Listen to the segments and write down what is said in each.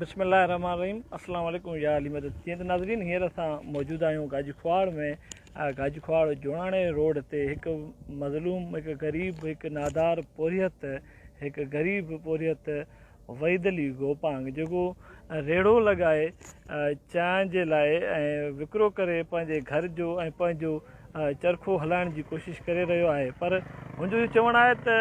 بسم الله الرحمن الرحيم السلام عليڪم يا علي مدد جي ته ناظرين هينئر اسان موجود آهيون گاجي کواڙ ۾ گاجي کواڙ جوڻاڻي روڊ تي هڪ مظلوم هڪ غريب هڪ نادار پورهيت هڪ غريب پورهيت وحيد علي گوپانگ جيڪو ريڙو لڳائي چانهه جي لاء ۽ وڪرو ڪري پنهنجي گهر جو ۽ پنهنجو چرخو هلائڻ جي ڪوشش ڪري رهيو آهي پر هن جو اهو چوڻ آهي ته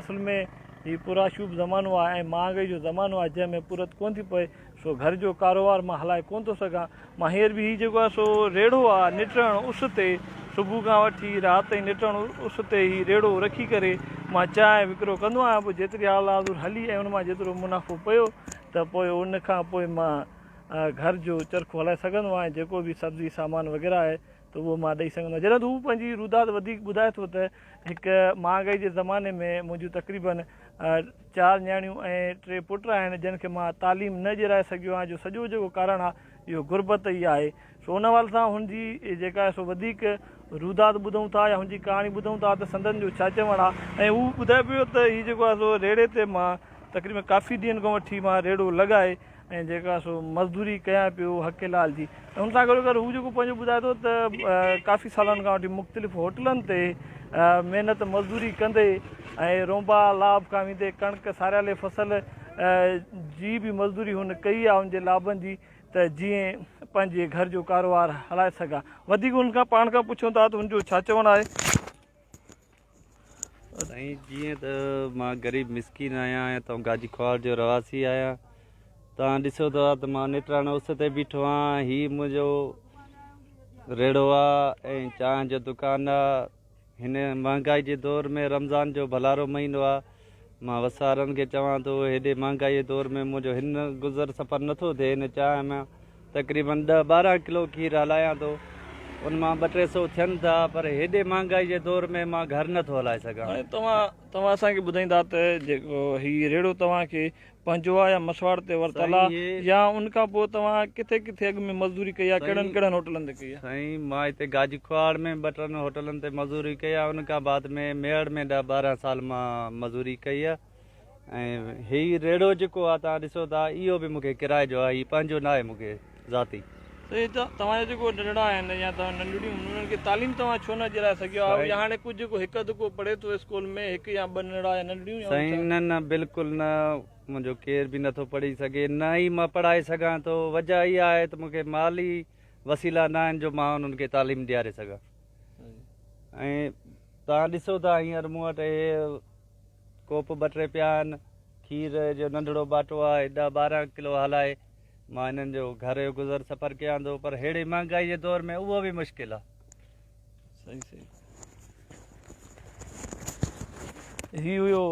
اصل ۾ هي پرآشوب زمانو آهي ۽ مهانگائي جو زمانو آهي جنهن ۾ پورت ڪونه ٿي پئي سو گهر جو ڪاروهار مان هلائي ڪونه ٿو سگهان مان هينئر به هي جيڪو آهي سو ريڙهو آهي نٽڻ اس تي صبح کان وٺي رات تائين نٽڻ اس تي هي ريڙهو رکي ڪري مان چانهه وڪرو ڪندو آهيان پوء جيتري حال حاضر هلي ۽ ان مان جيترو منافعو پيو ته پوء ان کان پوء مان گهر جو چرخو هلائي سگهندو آهيان جيڪو به سبزي سامان وغيره آهي ته اهو مان ڏئي سگهندو آهيان جڏهن ته هو پنهنجي روداد وڌيڪ ٻڌائي ٿو ته هڪ مهانگائي جي زماني ۾ منهنجون تقريبن چار نياڻيون ۽ ٽي پٽ آهن جن کي مان تعليم نه ڏيرائي سگهيو آهيان جو سڄو جيڪو ڪارڻ آهي اهو غربت ئي آهي سو ان حوالي سان هن جي جيڪا آهي سو وڌيڪ روداد ٻڌون ٿا يا هن جي ڪهاڻي ٻڌون ٿا ته سندن جو ڇا چوڻ آهي ۽ هو ٻڌائي پيو ته هي جيڪو آهي سو ريڙهي تي مان تقريبن ڪافي ڏينهن کان وٺي مان ريڙهو لڳائي ۽ جيڪا سو مزدوري ڪيان پيو حقي لال جي ۽ ان سان گڏو گڏ هو جيڪو پنهنجو ٻڌائي ٿو ته ڪافي سالن کان وٺي مختلف هوٽلن تي محنت مزدوري ڪندي ۽ رونبا لاب کان ويندي ڪڻڪ ساريالي فصل جي به مزدوري هن ڪئي آهي ان جي لابن جي ته جيئن پنهنجي گهر جو ڪاروهار هلائي سگهان. وڌيڪ هن کان پاڻ کان پڇون ٿا ته هن جو ڇا چوڻ آهي؟ سائين جيئن ته مان غريب مسڪين آهيان ۽ اتان گاجي خوار جو رهواسي آهيان توهان ڏسو ٿا ته مان نيٽراڻو اس تي بيٺو آهيان هي منهنجو ريڙهو آهي ۽ چانهه جو دڪان آهي هن مهانگائي جي دور ۾ رمضان جو ڀلارو مهينو آهي مان وس وارن کي چوان ٿو هيڏي مهانگائي جي دور ۾ منهنجو هن گذر سفر نٿو ٿئي هن چانهه ۾ تقريبن ڏهه ٻارهن ڪلو کير هلايان ٿو ان مان ٻه ٽي سو ٿين ٿا پر هيڏي مهانگائي جي دور ۾ مان گهر نٿو هلائي سگهان توهان توهان اسان کي ٻڌائيندا ته جيڪو هي ريڙهو توهان کي پنهنجو آ يا مسواڙ تي ورتل آ يا ان کان پوء توهان ڪٿي ڪٿي اڳ ۾ مزدوري ڪئي آ ڪهڙن ڪهڙن هوٽلن تي ڪئي آ. سائين مان هتي گاجي ڪهاڙ ۾ ٻه ٽن هوٽلن تي مزوري ڪئي آ ان کان بعد ۾ ميهڙ ۾ ڏهه ٻارهن سال مان مزوري ڪئي آ ۽ هي ريڙهو جيڪو آ توهان ڏسو ٿا اهو به مونکي ڪرايي جو آ هي پنهنجو ناهي مونکي ذاتي. سائين جا توهان جا جيڪو ننڍڙا آهن يا توهان ننڍڙيون انهن کي تعليم توهان ڇو نه ڏيرائي سگهيا آهيو يا هاڻي ڪجهه جيڪو هڪ اڌ ڪو پڙهي ٿو اسڪول ۾ هڪ يا ٻه ننڍڙا يا ننڍڙيون يا سائين نه نه بلڪل نه منهنجو ڪير به نٿو پڙهي سگهي نه ئي مان پڙهائي سگهان ٿو وجه اها آهي ته مونکي مالي وسيلا نه آهن جو مان انهن کي تعليم ڏياري سگهان ۽ توهان ڏسو ٿا هينئر مون وٽ اهي ڪوپ ٻه ٽي پيا آهن کير جو ننڍڙو ٻاٽو آهي ڏهه ٻارهن ڪلو هلائي مان هنن جو گهر جو گذر سفر ڪيان ٿو پر ههڙي مهانگائي جي دور ۾ اهو به مشڪل آهي صحيح صحيح هي هيو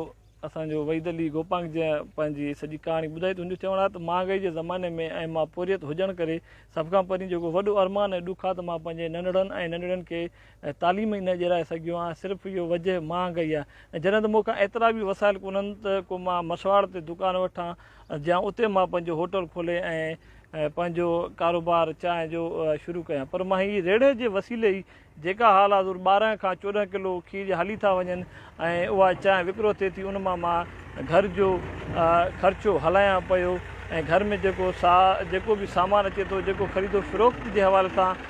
اسان جو وحيد علي گوپانگ جي پنهنجي سڄي ڪهاڻي ٻڌائي ته هن جو چوڻ آهي ته مهانگائي جي زماني ۾ ۽ مان پورهيت هجڻ ڪري سڀ کان پرين جيڪو وڏو ارمان ۽ ڏک آهي ته مان پنهنجي ننڙن ۽ ننڙين کي ۽ تعليم ئي نه ڏيرائي سگهيو آهيان، صرف اهو وجهه مهانگئي آهي ۽ جڏهن ته مون کان ايترا به وسائل ڪونهن ته ڪو مان مسواڙ تي دڪان وٺان جيان اتي مان پنهنجو هوٽل کولي ۽ پنهنجو ڪاروبار چانهه جو شروع ڪيان پر مان هي ريڙهه جي وسيلي ئي جيڪا حال حاضر ٻارهن کان چوڏهن ڪلو کير جا هلي ٿا وڃن ۽ اها چانهه وڪرو ٿئي ٿي ان مان مان گهر جو خرچو هلايان پيو ۽ گهر ۾ جيڪو سا جيڪو به سامان اچي ٿو جيڪو خريد و فروخت جي حوالي سان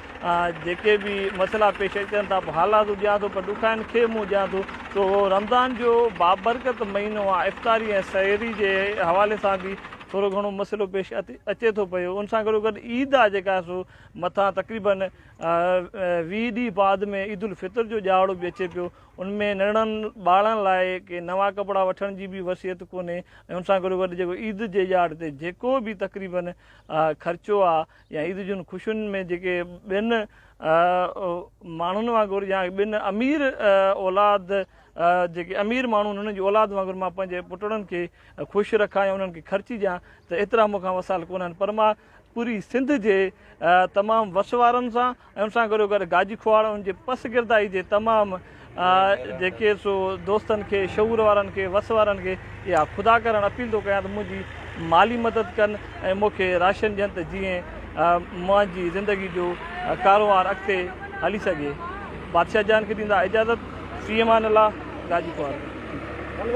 جيڪي به مسئلا پيش اچن ٿا پوء حالات ڏيان ٿو پر ڏکائن کي منهن ڏيان ٿو سو رمضان جو بابرڪت مهينو آهي افطاري ۽ سحري جي حوالي سان به ٿورو گهڻو مسئلو پيش اچي ٿو پيو ان سان گڏو گڏ عيد آهي جيڪا سو مٿان تقريبن ويهه ڏينهن بعد ۾ عيد الفطر جو ڏهاڙو به اچي پيو ان ۾ ننڍڙن ٻارڙن لاء ڪي نوان ڪپڙا وٺڻ جي به وصيت ڪونهي ۽ ان سان گڏوگڏ جيڪو عيد جي ڄاڙ تي جيڪو به تقريباً خرچو آ يا عيد جون خوشين ۾ جيڪي ٻين ماڻهن وانگر يا ٻين امير اولاد جيڪي امير ماڻهو انهن جي اولاد وانگر مان پنهنجي پٽڙن کي خوش رکان يا انهن کي خرچي ڏيان ته ايترا مون کان وسائل ڪونهن پر مان پوري سنڌ جي تمام وس وارن سان ۽ ان سان گڏو گڏ گاجي کهواڙ ان جي پس گردائي جي تمام جيڪي سو دوستن کي شعور وارن کي وس وارن کي اها خدا ڪرڻ اپيل ٿو ڪيان ته منهنجي مالي مدد ڪن ۽ مون کي راشن ڏين ته جيئن منهنجي زندگي جو ڪاروهنوار اڳتي هلي سگهي بادشاهه جان کي ڏيندا اجازت في امان الله گاجي کهواڙ